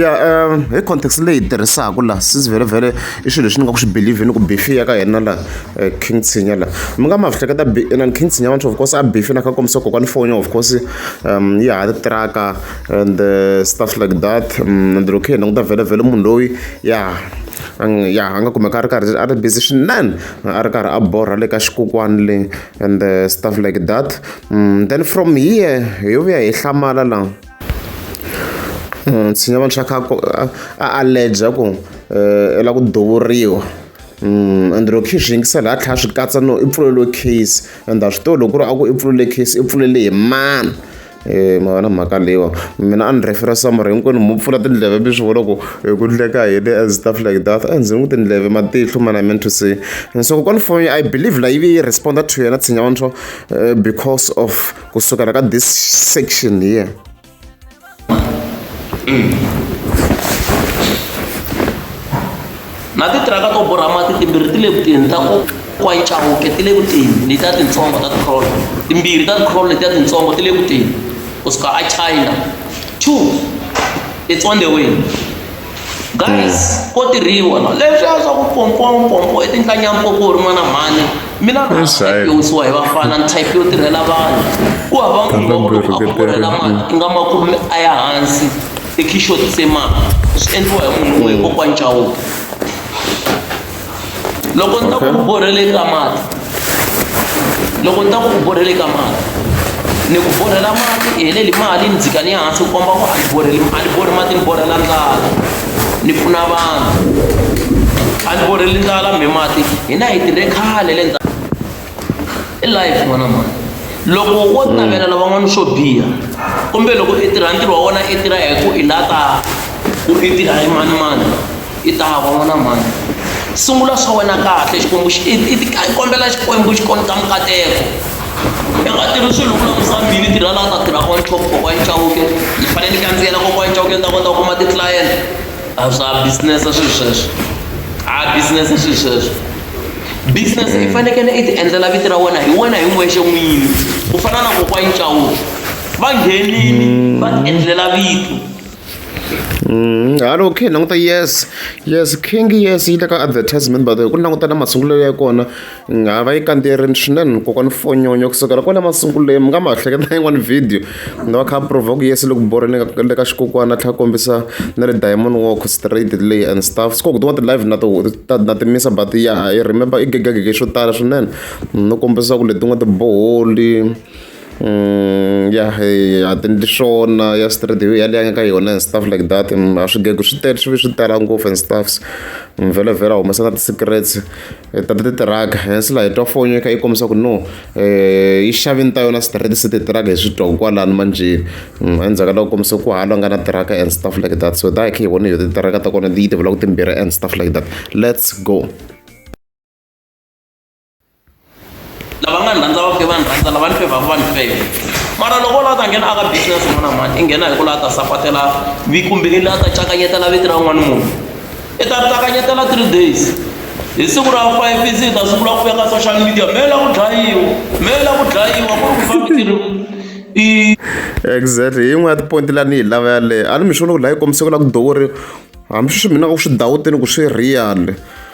ya um hi context leyi hi tirhisaka laha since vhele vhele i swilo leswi ni nga ku swi believe ni ku bifi ya ka hina laha eh, king tshinya laha mi nga ma swi hleketa inani king tshinya vantsho of course a bifi na kha kombisa kokwani foni of course um yi ha tiraka and eh, stuff like that um, and loko hi languta vhele vhele munhu loyi ya ya a nga kumeka a ri karhi a ri busy swinene a ri karhi a borha le ka xikokwani le and eh, stuff like that um, then from here hi yo vuya hi hlamala laha Nsinya wa muxaka ku a allergy ku u lava ku duvuriwa ende loko kha hi swi yingisela hi tlhela hi swi katsa no i pfuleliwe case ende a swi tivi loko ku ri a ku i pfulele case i pfulele hi mani ma vona mhaka leyiwa mina a ni rhefera somebody hinkwenu hi mu pfula tindleve mi swi vona ku ku endleka yini and stuff like that a ndzi n'wi tindleve matihlo mani I meant to say so kokwana foni I believe la yi ve yi respond to yena nsinya wa because of. kusukela ka this section here na titiraka to borha mati timbirhi ti le kutini ta kwayicawuke ti le kutini letiya tintsongo ta tikrol timbirhi ta tikrol letiya tintsongo ti le kutini kusuka achina two it's on the way Guys, ko tirhiwa no. Leswiya swa ku pompompompo i tinhlanyampompo u ri n'wana mhani. Mina ni hlekisiwa hi vafana ni type yo tirhela vanhu. Ku hava munhu wa ku loko a ku borhela mali i nga makume a ya hansi i khixotise mali. Swi endliwa hi munhu un'we hi kokwana Chauke. loko ni ta ku borhele ka mati loko ni ta ku borhele ka mati ni ku borhela mati i heleli mali ni dzika ni ya hansi ku komba ku a ni borheli a ni borhi mati ni borhela ndlala ni pfuna vanhu a ni borheli ndlala mi mati hina hi tirhe khale le . i life n'wana mhani loko wo navela lavan'wana swo biha kumbe loko i tirha ntirho wa wona i tirha hi ku i la ta ku i tirha hi mani mani i ta va n'wana mhani sungula swa wena kahle xikwembu i kombela xikwembu xi konta mikateko i nga tirhi swilo ku lakusa mbili tirha laha ta tirha on top kokwani chawuke ni fanele ni kandziyela kokwani chawuke ni ta kota ku kuma ti-client a swa business swilo sweswo a business swilo sweswo business i fanekele i ti endlela vito ra wena hi wena hi n'wexe n'wini ku fana na kokwana Chauke va nghenile va ti endlela vito Mm, halo okay languta yes yes king yes yi le ka advertisement by the way ku languta na masungulo ya kona nga va yi kandzierini swinene kokwana fonyonyo kusukela kwala masungulweni mi nga ma hleketa yin'wani video Ku nga va kha provoke yes loko borha le ka le ka xikokwana a tlhela a kombisa na le diamond walk straight leyi and stuff swi kona ku tin'wana ti-live na to ta na ti misa but ya i remember i gegegege swo tala swinene no kombisa ku letin'wana tiboholi ya a ti endli swona ya straight hi yaleyo a nga ka yona and stuff like that a swigego swi tele swi ve swi tala ngopfu and stuffs vhela vhela humesa na ti-secrets. hi ta titiraka hansi laha hi twa fonyo kha yi kombisa ku no um yi xave ni ta yona straight se titiraka hi swi twa ku kwalani manjeni mm, endzhaku ka loko kombisa ku hala nga na tiraka and stuff like that so ta hi kha hi vona yo titiraka ta kona yi tivula ku timbirhi and stuff like that let's go lava nga ni rhandza va fike va ni rhandza lava ni fevhaku va ni feva mara loko u lava ta nghena aka business un'wana na un'wana i nghena hi ku lava ta sapatela kumbe i lava ta cakanyetela vito ra un'wana munhu i ta cakanyetela three days hi siku ra five i ze i ta sungula ku ya ka social media me la ku dlayiwa me la ku dlayiwa ku ri ku famba i exactly hi yin'wana ya tipoyinti la ni yi lava yaleyo a ni mixo loko la yi kombise ku la ku dowori hambi sweswi mina ku swi dawuteni ku swi real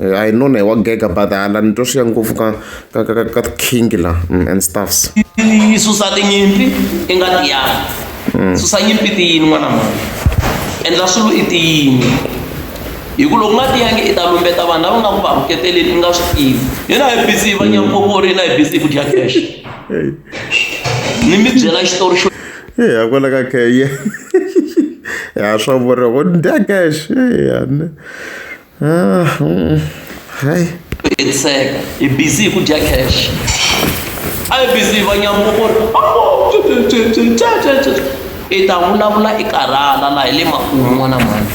I know na wa gega but hala ni twa swi ya ngopfu ka ka ka ka king la mm, and stuffs yi susa tinyimpi i nga tiyanga mm. susa nyimpi tiyini n'wana mani endla swilo i tiyini hi ku loko nga tiyangi i ta lumbeta vanhu lava nga ku va ruketeleni i nga swi tivi hina hi busy va nyampopo ri na hi busy ku dya cash ni mi byela xitori xo ya kwala ka keye ya swa vuriwa ku dya cash ya hayi hetseka hi busy hi ku dya cash a hi busy va nyambo ku ri i ta vulavula i karhala laha hi le makumu n'wana mhani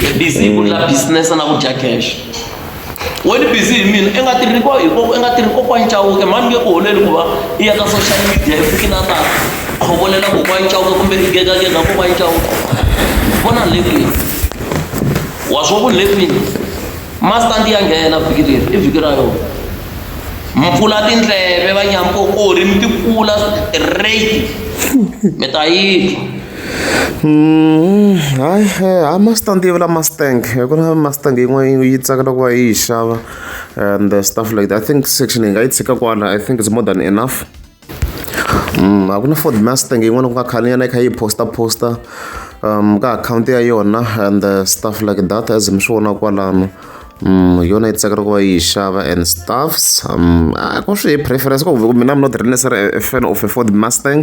hi busy hi ku ndla business na ku dya cash wena busy hi mina i nga tirhi ko hi i nga tirhi kokwani cawuke mhani nge ku holeli ku va i ya ka social media i fikile a ta khovolela kokwani cawuke kumbe i gegagega kokwani cawuke vona le kwihi wa swo ku le kwini master ndi ya nghena vhiki leri i vhiki ra yona mpfula tindleve va nyampo o ri mi tikula rate mi ta yitwa hayi eh, hayi mustang yi vula mustang ku na mustang yin'wana yi tsakela ku va yi yi xava and stuff like that i think section yi nga yi tshika kwala i think it's more than enough a ku na ford mustang yin'wana ku nga khaniyana yi kha yi posta posta um ka akhawunti ya yona and uh, stuff like that as mi swi vona kwalano um yona yi tsakela ku va yi xava and stuffs um a ku swi hi preference ku ku mina mi not really necessary a fan of a ford mustang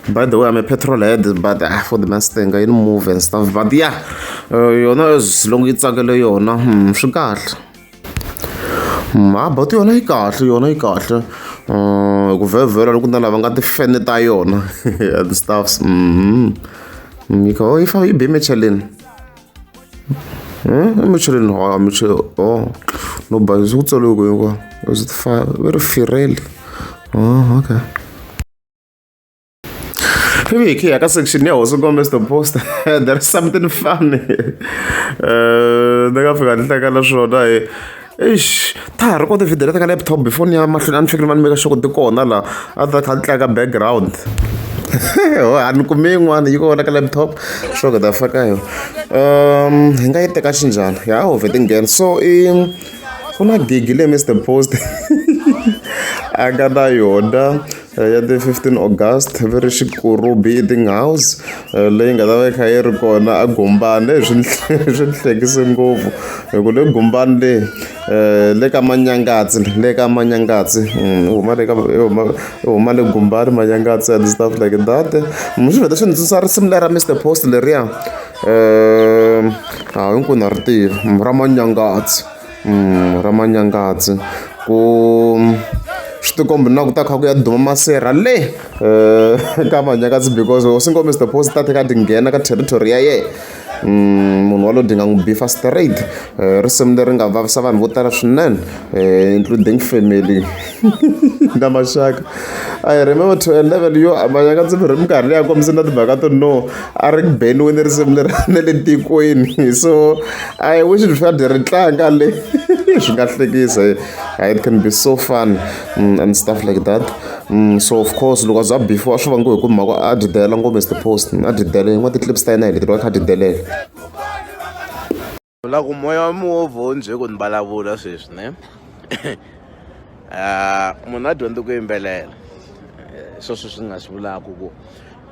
by the way i'm a petrol head but uh, ford mustang yi move and stuff but yeah uh, yona as long yi tsakele yona um swi kahle Mhabatu yona yi kahle yona yi kahle ku vhevhela loko na lava nga ti fene ta yona and stuffs mm yi kha yi fa yi be macheleni macheleni ha miche o no ba ku tsaliwe ku hinkwa is it fa va ri firele oh okay Viviki, eka section ya Hosi Gomez the poster there is something funny eh, ni nga fika ni hlekela swona hi eish ta ha ri ko tivhidiyo leti ka laptop before ni ya mahlweni a ni fikile ma ni meka xoko ti kona laha a ta kha ni tlanga background ho a ni kumi yin'wana yi kona ka laptop xoko ta faka yo um hi nga yi teka xinjhani ya ho vhe ti nghena so i ku na gigi leyi mr post a nga na yona eh, ya ti 15 august va ri xikuru beating house eh, leyi nga ta va yi kha yi ri kona a gumbani eh, swi swi hlekise ngopfu hi ku le gumbani le um le ka manyangatsi le ka manyangatsi mm, huma le ka huma le gumbani manyangatsi and stuff like that mi swi vheta swi ndzi tswisa risimu lera mr post leriya um ha hinkwenu ha ri tiva ra manyangatsi ra manyangazi ku swi ti kombi na ku ta kha ku ya duma masirha le ka manyangazi because hosi nkomiso the post ta tlhela ti nghena ka territory ya yena Mm, munhu walowo dinga n'wi bifa straight eh, risimu leri nga vavisa vanhu vo tala swinene eh, including family na maxaka i remember to a level yo maxaka ndzi mi ri minkarhi leyi a kombise na timhaka to no a ri beniwini risimu leri ne le tikweni so i wish ri fanele ri tlanga le swi nga hlekisa it can be so fun mm, and stuff like that mm, so of course loko a za before a swi vangiwe hi ku mhaka a dyi delela ngombe is the post a dyi delele yin'wana ti-clips ta yena hi leti va kha a dyi delela u la ku moya wa mihovho wu ndzi ku ni vulavula sweswi ne ah, munhu a dyondzi ku yimbelela eh, swo sweswi ni nga swi vulaka ku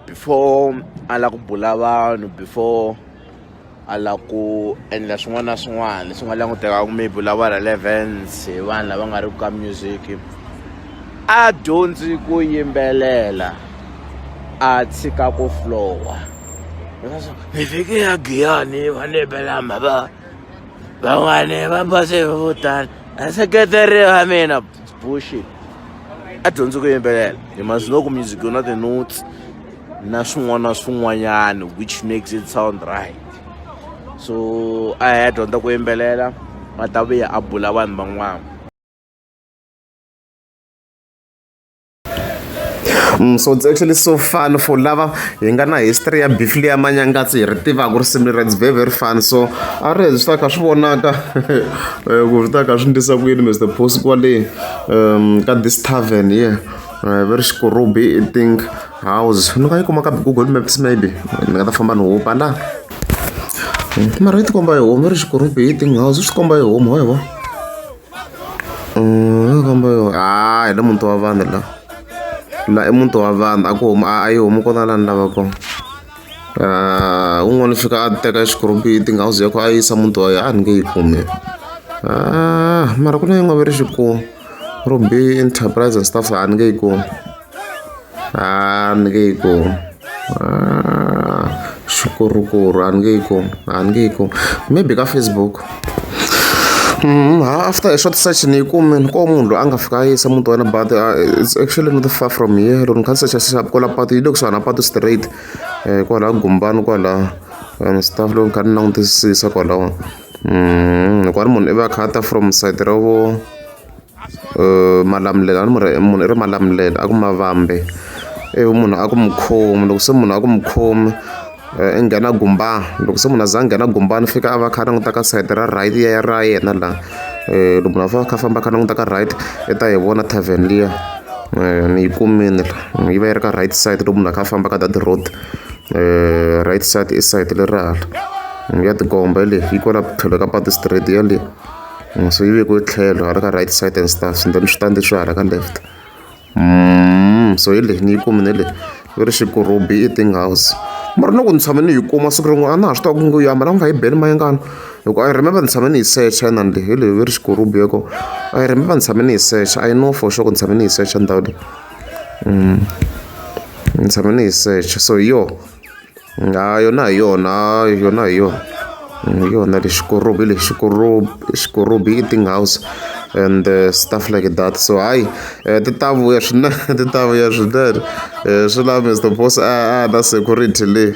before a la ku bula vanhu before a la ku endla swin'wana na swin'wana leswi nga langutekaku maybe u lava relevance hi vanhu lava nga ri ku ka music a dyondzi ku yimbelela a tshika ku flowa hi fike ya giyani va ni bela mhaka van'wani va pase vo tala vaseketeri va mina bullshit a dyondzi ku yimbelela hi must know ku music yona ti-notes na swin'wana na swin'wanyana which makes it sound right so a hi ya dyondza ku yimbelela va ta vuya a bula vanhu van'wana Mm, so it's actually so fun for lava hi nga na history ya beef leya manyangatsi hi ri tivaka ku ri simi ra it's very very fun so a ri hezi swi ta kha swi vonaka eh, ku swi ta kha swi ndlisa ku yini mr post kwale um ka this tavern ye yeah. uh, very xikurubi i think house ni nga yi kuma ka google maps maybe ni nga ta famba ni hupa la hmm, mara yi tikomba hi homu ri xikurubi i think house swi komba hi homu wa hi vona komba yo hayi le muti wa vanhu la la i muti wa vanhu a ku huma a yi humi kona lani lava kona un'wana u fika a teka xikorobiti nga uze ku a yisa muti wa yena a ni nge yi kumi mara ku na yin'wana ve ri xikulu ro be enterprise and stuff a ni nge yi kumi an ge ku ah, syukur kur an ge ku an ge ku maybe ka facebook Mm, after a short search ni kume ni ko munhu loyi a nga fika a yisa muti wena but uh, it's actually not far from here loko ni kha ni searcha searcha kwala patu yi le kusuhana patu straight um kwala gumbani kwala and stuff loko ni kha ni langutisisa kwalawo mm, hikwani munhu i va khata from side ra vo malamulelo a ni munhu munhu i ri malamulelo a ku mavambi ivi munhu a ku mukhomi loko se munhu a ku mukhomi i nghena gumbani loko se munhu a za a nghena gumbani fika a va kha a languta ka sayiti ra right ya ya ra yena la loko munhu a fane a kha a famba a kha a languta ka right i ta yi vona tarven liya ni yi kumini la yi va yi ri ka right side loko munhu a kha a famba ka that road right side i side leri hala ya tikomba yaleyo yi kwala tlhelo ka patu straight yaleyo. So yi vekiwe tlhelo hala ka right side and stuff and then switandi swi hala ka left mm, so hi leyi ni yi kumile leyi yi ri xikurubi i thing house mara loko ni tshame ni yi kuma siku rin'we a na ha swi tiva ku ngo yama lama nga yi beli mayengana loko i remember ni tshame ni yi secha inani leyi hi leyi yi ri xikurubi yoko i remember ni tshame ni yi secha i know for sure ku ni tshame ni yi secha ndhawu leyi mm. ni tshame ni yi secha so hi yona Ha yona hi yona yona hi yona. Hi yona lexi xikorubi lexi xikorubi xikorubi i ti-ngaws and stuff like that so hayi ti ta vuya swinene ti ta vuya swinene swi lava Mister Boss a a na security leyi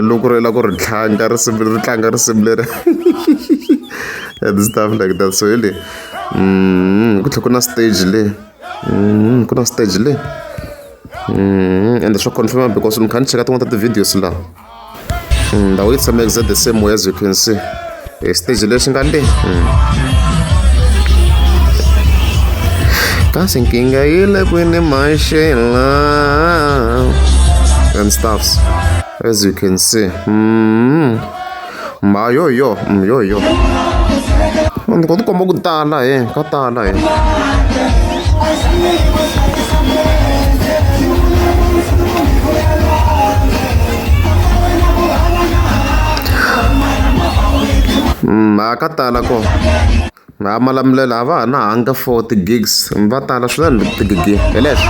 loko ri lava ku ri tlanga risimu leri tlanga risimu leri and stuff like that so hi leyi ku tlhela ku na stage le ku na stage le. Mm, ende swa confirma because ni kha ni cheka tin'wana ta ti-videos laha mm, ndhawu yi tshama exact the same way as you can see hi stage lexi nga le mm. kasi nkingga yi le kwini maxela and stuffs as you can see mm. ma yo hi yo mm, yo hi yo ni ko tikomba ku tala he ka tala he ma mm, ka tala ko nga malamulela a va ha na hanga for ti-gigs va tala swinene ti-gigi hi leswo